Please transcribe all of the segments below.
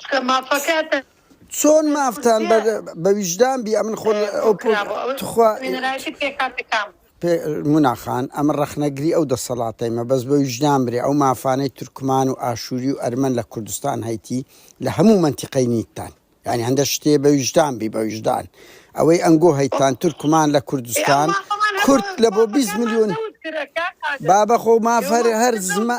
چکە مافەکەتە. چۆن مافتان بە ویژدان بی ئەمن خۆ تخوا مناخان ئەمە ڕەخنەگری ئەو دەسەڵاتەی مە بەس بە ویژدان برێ ئەو مافانەی تورکمان و ئاشووری و ئەرمەن لە کوردستان هەیتی لە هەموو منتیقەی نیتان ینی هەندە شتێ بە ویژدان بی بە ویژدان ئەوەی ئەنگۆ هەیتان تورکمان لە کوردستان کورد لە بۆ 20 میلیۆن بابە خۆ مافەر هەر زمە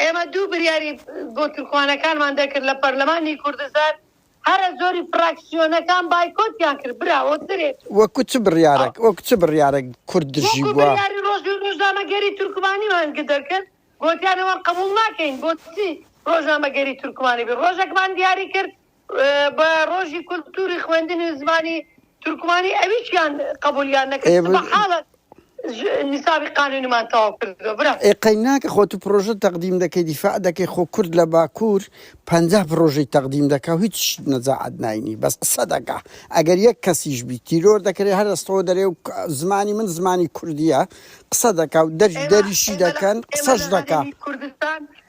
ئێمە دوو بریاری بۆ تورکوانەکانمان دەکرد لە پەرلەمانی کوردستان هەرە زۆری فراکسیۆنەکان بایکۆتیان کرد براوە درێت و وەکو چ بڕیارەک وەکو چ بڕیارەک کورد دژی وەکو بووە؟ بریاری ڕۆژ ڕۆژنامەگەری تورکمانیمان گدر کرد گۆتیان ئەوان قبوڵ ناکەین بۆچی ڕۆژنامەگەری تورکمانی بێ ڕۆژەکمان دیاری کرد بە ڕۆژی کولتوری خوێندنی زمانی تورکمانی ئەویشیان قبولیان نەکرد سبحاڵە نیسابی قانونیمان تەواو کردووە برا ئێ قەیناکە خۆ تو پرۆژە تەقدیم دەکەی دیفاع دەکەی خۆ کورد لە باکوور پەنجا پرۆژەی تەقدیم دەکا و هیچ شت نەجاعەت ناینی بەس قسە دەکا ئەگەر یەک کەسیش بی تیرۆر دەکرێ هەر ئەستەوە دەرێ و زمانی من زمانی کوردیە قسە دەکا و دەر دەریشی دەکەن قسەش دەکا کوردستان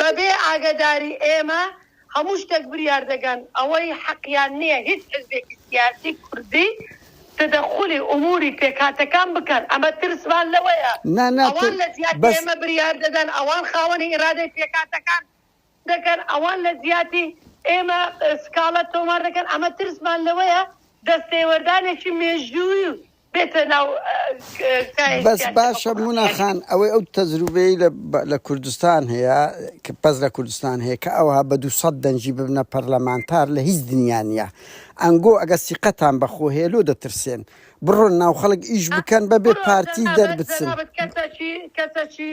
بەبێ ئاگەداری ئێمە هەموو شتەک بریار دەگەن ئەوەی حەقیان نیە هیچ حزبێکی سیاسی کوردی تدخلی ئموری پێکهاتەکان بکەن ئەمە ترسمان لەوەیە نا نا تو ئەوان لەجیاتی بەس. ئێمە بریار دەدەن ئەوان خاوەنی ئیرادەی پێکهاتەکان دەکەن ئەوان لەجیاتی ئێمە سکاڵا تۆمار دەکەن ئەمە ترسمان لەوەیە دەستێوەردانێکی مێژووی بێتە ناو کایەی بەس سیاسی باشە حکومەت مونا یعنی خان ئەوەی ئەو تەجروبەی لە بە- لە کوردستان هەیە کە بەس لە کوردستان هەیە کە ئەوها بە 200 دەنگی ببنە پەرلەمانتار لە هیچ دنیا نییە ئەنگۆ ئەگە سیقەتان بەخۆ هەیە لۆ دەترسێن بڕۆن ناو خەڵک ئیش بکەن بەبێ بڕۆ پارتی جەنابت دەربچن جەنابت کەسەکی کەسەکی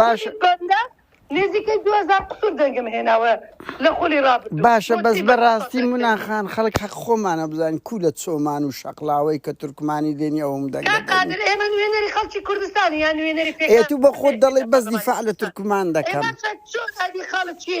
باشە نزیکەی 2000 قسور دەنگم هێناوە لە خولی ڕاب باشە بەس بەڕاستی مناخان خەڵک حەق خۆمانە بزانین کو لە چۆمان و شەقلاوەی کە تورکمانی دێنی ئەوم دەنگقادر ئێمە نوێنەری خەڵکی کوردستانی یان نوێنەری پێێت و بە خۆت دەڵێ بەس دیفاع لە تورکمان دەکەم خەڵکی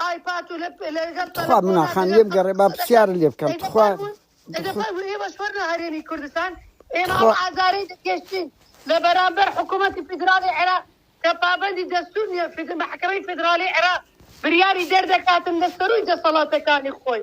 ئای پاتو لە لەگەڵ تخوا منا تەلەفۆنا خان دەگەڵ لێم تە گەڕێ با تەلەفۆنا پرسیارە لێ بکەم دەیکە تخوا فەرموون دەگە تخوا فەرموو ئێوەش وەرنە هەرێمی کوردستان ئێمە ئەو تخوا ئازارەی دەکێشین لە بەرامبەر حکوومەتی فیدراڵی عێراق کە پابەندی دەستوور نییە فید- محکمەی فیدراڵی عێراق بریاری دەردەکاتن لە سەرووی دەسەڵاتەکانی خۆی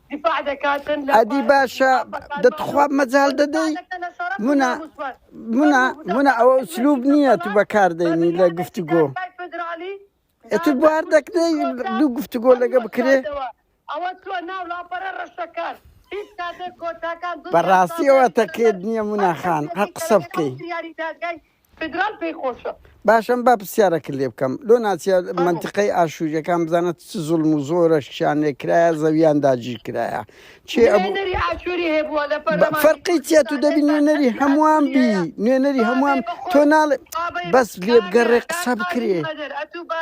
دفاع دەکاتن لە ئەدی باشە دەتخوا مەجال دەدەی منە منە منە ئەوە سلوب نییە تو بەکاردەینی لە گفتوگۆ ئەتر بوار دەکرێ دوو گفتوگۆ لەگە بکرێ ئەوە تۆ ناو لاپەرە ڕەشەکان بەڕاستیەوە تەکێت نییە مناخان هەر قسە بکەیت فیدرال پێی خۆشە. باشە من با پرسیارەکت لێ بکەم لۆ ناچە فەرموو منتقەی ئاشووریەکان بزانە چ زوڵم و زۆرەشیان لێ کرایە زەویان داگیر کرایە چێ ئەبوو نوێنەری ئاشووری هەبووە لە بە- پەرلەمانی فەرقی چیە تو کوردستان دەبی ئێستا نوێنەری ئەرکی هەمووان بی ئاشووریەیە نوێنەری هەمووان بابێ تۆ بخۆن ناڵێ بابەی بەس لێ بگەڕێ قابەی قسە بکرێ قادری قەدر ئەتوو بە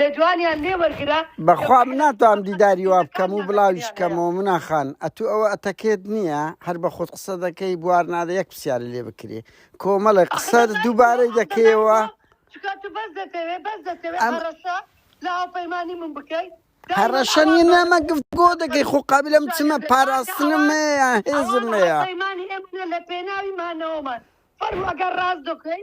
لە جوانیان لێ وەرگرە. بەخوا من ناتوانم دیداری وا بکەم و بڵاویش کەمەوە منا خان ئەتوو ئەوە ئەتەکێت نییە هەر بە خۆت قسە دەکەی بوار نادە یەک پرسیارە لێ بکرێ کۆمەڵێ قسە دووبارەی دەکەیەوە لە هاوپەیمانی من بکەی هەڕەشە نیە نامە گفتگۆ دەکەی خۆ قابلم چمە پاراستنم هەیە هێزم هەیە لە پێناوی مانەوەمان فەرمو ئەگەر ڕاست دەکەی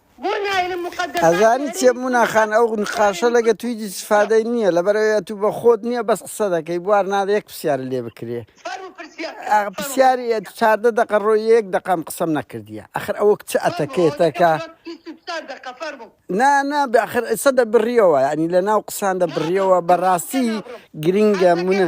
ئەزانی چیە مونا خان ئەو نقاشە لەگە توی هیچ سفادەی نییە لەبەر ئەوەیە تو بە خۆت نییە بەس قسە دەکەی بوار نادە یەک پرسیار لێ بکرێ ئا، پرسیاری ئە، چاردە دەقە ڕۆ یەک دەقام قسەم نەکردیە ئەخر ئەوە کچ ئەتەکێتەکە نا نا بەخر ئسە دە بڕیەوە ینی لە ناو قسان دە بڕیەوە بەڕاستی گرنگە منە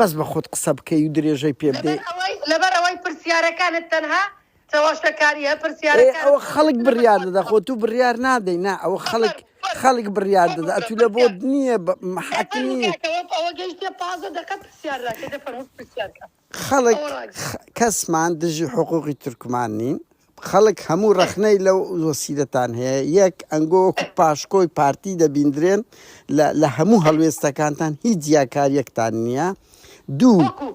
بەس بە خۆت قسە بکەی و درێژەی پێ بدەی. لەبەر ئەوەی لەبەر ئەوەی پرسیارەکانت تەنها چەواشەکاریە پرسیارەکانت. ئەوە خەڵک بڕیار دەدا خۆ تو بڕیار نادەی نا ئەوە خەڵک خەڵک بڕیار دەدا ئەتو لە بۆت نیە حەک نیە. ئەوە گەیشتە پازدە دەقە پرسیار ناکەی دەفەرموو پرسیار کە خەڵک کەسمان دژی حقوقی تورکمان نین خەڵک هەموو ڕەخنەی لەو وەسیلەتان هەیە، یەک ئەنگۆ وەکو پاشکۆی پارتی دەبیندرێن لە لە هەموو هەڵوێستەکانتان هیچ جیاکاریەکتان نییە، دوو وەکو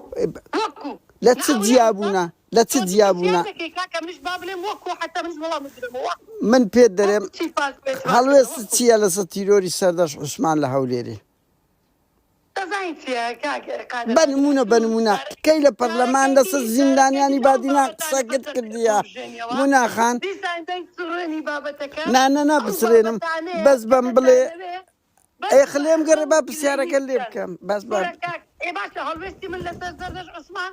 وەکو لە چ ناویان بە جیابوونە لە چ تۆ تۆ زیاد جیابوونە دەکەی کاکە منش با بڵێم وەکو حتا منش وەڵامت بدەمەوە وەکو من پێت دەرێم وەکو چی فاز بێت فاز بێت هەڵوێست وەکو چییە لەسەر تیرۆری سەردەشت عوسمان لە هەولێرێ؟ بە نموونە بە نموونە کەی لە پەرلەمان لەسەر زیندانیانی بادینان قسەکت کردیە مونا خان نا نا نا بسرێنم بەس بەم بڵێ ئەی خلێم گەڕێ با پرسیارەکە لێ بکەم بەس بە ئێ باشە هەڵوێستی من لەسەر زەردەش عوسمان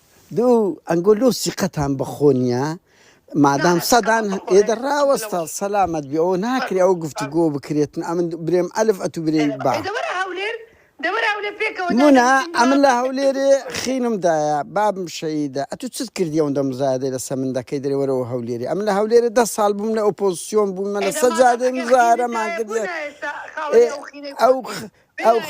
دوو ئەنگۆ لۆ سیقەتان بەخۆ نییە مادام سەدان ئێدە ڕاوەستە سەلامەت بێ ئەو ناکرێ ئەو گفتو گۆ بکرێتن ئەمن برێم ئەلف ئەتو برێ با منا ئەمن لە هەولێرێ خینم دایە بابم شەیدە ئەتو چت کردی ئەو دەم زادێ لەسە من دەکەی درێوەرەوە هەولێری ئەم لە هەولێرە ده ساڵ بووم لە ئۆپۆزسیۆن بوومە لە سەجادێ مزارەمان کرد ئەو ئەو خ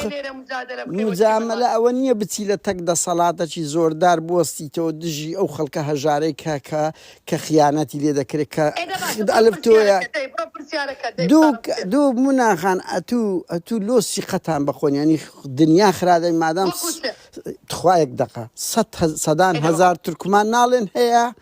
مجامەلە ئەوە نییە بچی لە تەک دەسەڵاتەکی زۆردار بوەستیتەوە دژی ئەو خەڵکە هەژارەی کە کە کە خیانەتی لێ دەکرێت کە خد ئەلف تۆیە دوو دوو مناخان ئەتوو ئەتوو لۆ سیقەتان بەخۆنیانی دنیا خرادەی مادام تخوایەک دەقە سەدان هزار تورکمان ناڵێن هەیە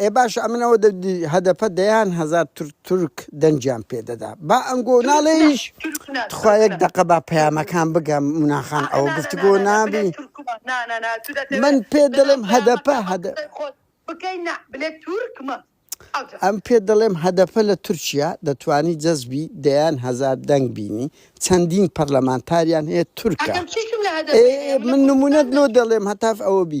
ئێ باشە ئەمن ئەوە دەبدی هەدەپە دەیان هەزار تورک تورک دەنگیان پێ دەدا با ئەنگۆ ناڵێیش تخوا یەک دەقە با پەیامەکان بگەم مونا خان ئەوە گفتگۆ نابی من پێ دەڵێم هەدەپە هەدە ئەم پێ دەڵێم هەدەپە لە تورکیا دەتوانی جەزبی دەیان هەزار دەنگ بینی چەندین پەرلەمانتاریان هەیە تورکە من نمونەت لۆ دەڵێم هەتاف ئەوە بی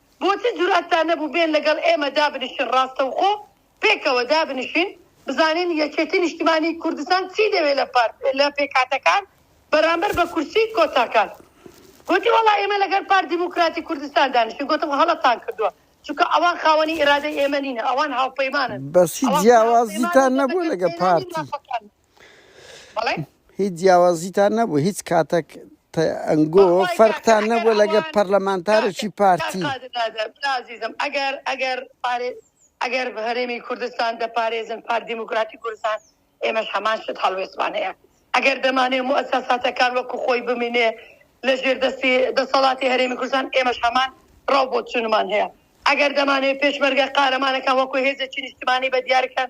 بۆ چ جورئەتتان نەبوو بێن لەگەڵ ئێمە دابنشن ڕاستەوخۆ پێکەوە دابنشین بزانین یەکێتی نیشتمانی کوردستان چی دەوێ لە پارت لە پێکهاتەکان بەرامبەر بە کورسی کۆتاکان گۆتی وەڵا ئێمە لەگەر پارت دیموکراتی کوردستان دانیشین گۆتم هەڵەتان کردوە چونکە ئەوان خاوەنی ئیرادەی ئێمە نینە ئەوان هاوپەیمانن بەس هیچ ئەوان خاوەن پەیمانن جیاوازیتان نەبوو لەگەر لەگەر پێنانی پارتی مافەکان. هیچ جیاوازیتان نەبوو هیچ کاتێک ئەنگۆ فەرقتان نەبووە لەگە پەرلەمانتارێکی پارتی ئەگەر ئەگەر ئەگەر هەرێمی کوردستان دەپارێزن پار دیموکراتی کوردستان ئێمەش هەمان شت هەڵوێستمان هەیە ئەگەر دەمانێ موسەساتەکان وەکو خۆی بمینێ لە ژێر دەستی دەسەڵاتی هەرێمی کوردستان ئێمەش هەمان ڕاو بۆ چونمان هەیە ئەگەر دەمانێ پێشمەرگە قارەمانەکان وەکو هێزێکی نیشتمانی بە دیارکەن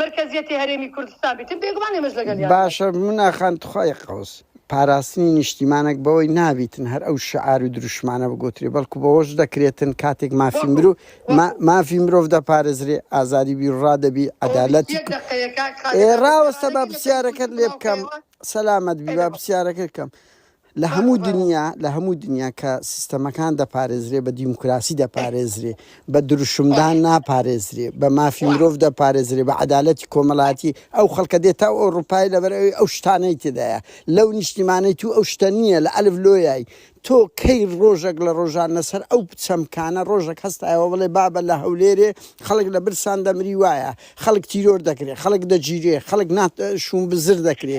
مەرکەزیەتی هەرێمی کوردستان بیتن بێگومان ئێمەش لەگەلیان بین. باشە من ئاخان تخوای قەوس پاراستنی نیشتیمانەک بەوەی نابیتن هەر ئەو شعار و دروشمانە بگۆترێ بەڵکو بەوەش دەکرێتن کاتێک مافی مرو ما مافی مرۆڤ دەپارێزرێ ئازادی بیروڕا دەبی ئەوە بیست عەدالەتی یەک دەقەیە کاک خالد ئێ ئەبێت ڕاوەستە با گەڕانەکەی لەسەر پرسیارەکەت لێ بکەم بەرزکردنەوە سەلامەت بی با لێرەوە پرسیارەکەت کەم لە هەموو دنیا لە هەموو دنیا کە سیستەمەکان دەپارێزرێ بە دیموکراسی دەپارێزرێ بە دروشمدان ناپارێزرێ بە مافی مرۆڤ دەپارێزرێ بە عەدالەتی کۆمەڵاتی ئەو خەڵکە دێتا و ئەوروپای لەبەر ئەوی ئەو شتانەی تێدایە لەو نیشتیمانەی تو ئەو شتە نییە لە ئەلف لۆیای تۆ کەی ڕۆژەک لە ڕۆژان لەسەر ئەو چەمکانە ڕۆژەک هەستایەوە بڵێ بابە لە هەولێرێ خەڵک لە برسان دەمری وایە خەڵک تیرۆر دەکرێ خەڵک دەگیرێ خەڵک نات شوم بزر دەکرێ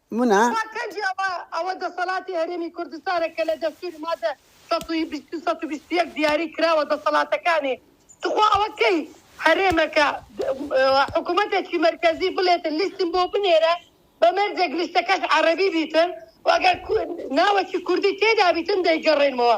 منە. ئەوە کەجی ئەوە ئەوە دەسەڵاتی هەرێمی کوردستانە کە لە دەستوری مادە سەد و بیست و سەد و بیست و یەک دیاری کراوە دەسەڵاتەکانی توخوا ئەوە کەی هەرێمە کە حکومەتەکی مەرکەزی بڵێتن لیستم بۆ بنێرە بە مەرجێک لیستەکەش عەرەبی بیتن و ئەگەر ناوەکی کوردی تێدا بیتن دەیگەڕێنمەوە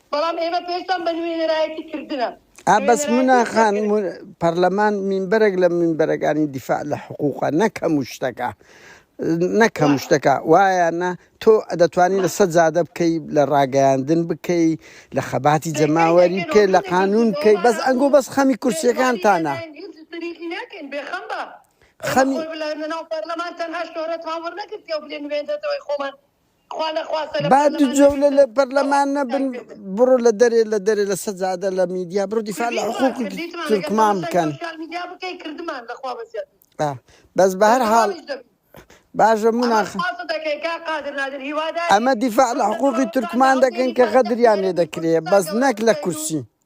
بەڵام ئێمە پێشتان بە نوێنەرایەتی کردنە. ئا بەس مونا خان پەرلەمان مینبەرێک لە مینبەرەکانی دیفاع لە حقوقە نەکەم و شتەکە نەکەم شتەکە وایانە تۆ دەتوانی لە سەد زادە بکەی لە ڕاگەیاندن بکەی لە خەباتی جەماوەری بکەی لە قانون بکەی بەس ئەنگۆ بەس خەمی کورسیەکانتانە خەمی با دو جولە لە پەرلەمان نەبن بڕۆ لە دەرێ لە دەرێ لە سەجادە لە میدیا بڕۆ دیفاع لە حقوق تورکمان بکەن آه. بەس بە هەر حاڵ باشە مناخ ئەمە دیفاع لە حقوقی تورکمان دەکەن کە غەدریان لێ دەکرێ بەس نەک لە کورسی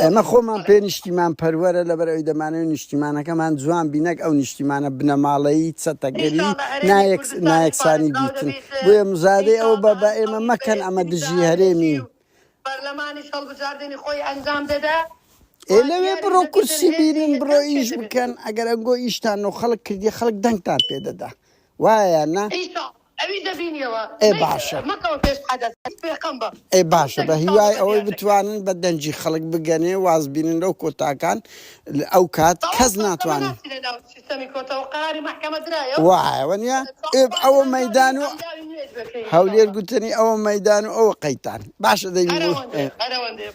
ئێمە خۆمان پێ نیشتیمان پەروەرە لەبەر ئەوی دەمانەوەی نیشتیمانەکەمان جوان بینەک ئەو نیشتیمانە بنەماڵەیی چەتەگەری نایەکسانی بیتن بۆیە مزادەی ئەو بە بە ئێمە مەکەن ئەمە دژی هەرێمی و پەرلەمانی هەڵبژاردننی خۆی ئەنجام دەدا ئێ لەوێ بڕۆ کورسی بینن بڕۆ ئیش بکەن ئەگەر ئەنگۆ ئیشتان و خەڵک کردی خەڵک دەنگتان پێدەدا وایە نا ئەوی دەبینیەوە ئەی باشە مەکەوە پێش حەدەس هەر پێقەم بە. ئەی باشە بە هیوای ئەوەی بتوانن بە دەنگی خەڵک بگەنێ واز بینن لەو کۆتاکان ئەو کات کەس ناتوانن. وایە وەنیا ئێب ئەوە مەیدان و هەولێر گوتەنی ئەوە مەیدان و ئەوە قەیتان باشە دەی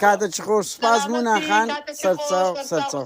کاتە چ خۆش سپاس مونا خان سەرچاو سەرچاو.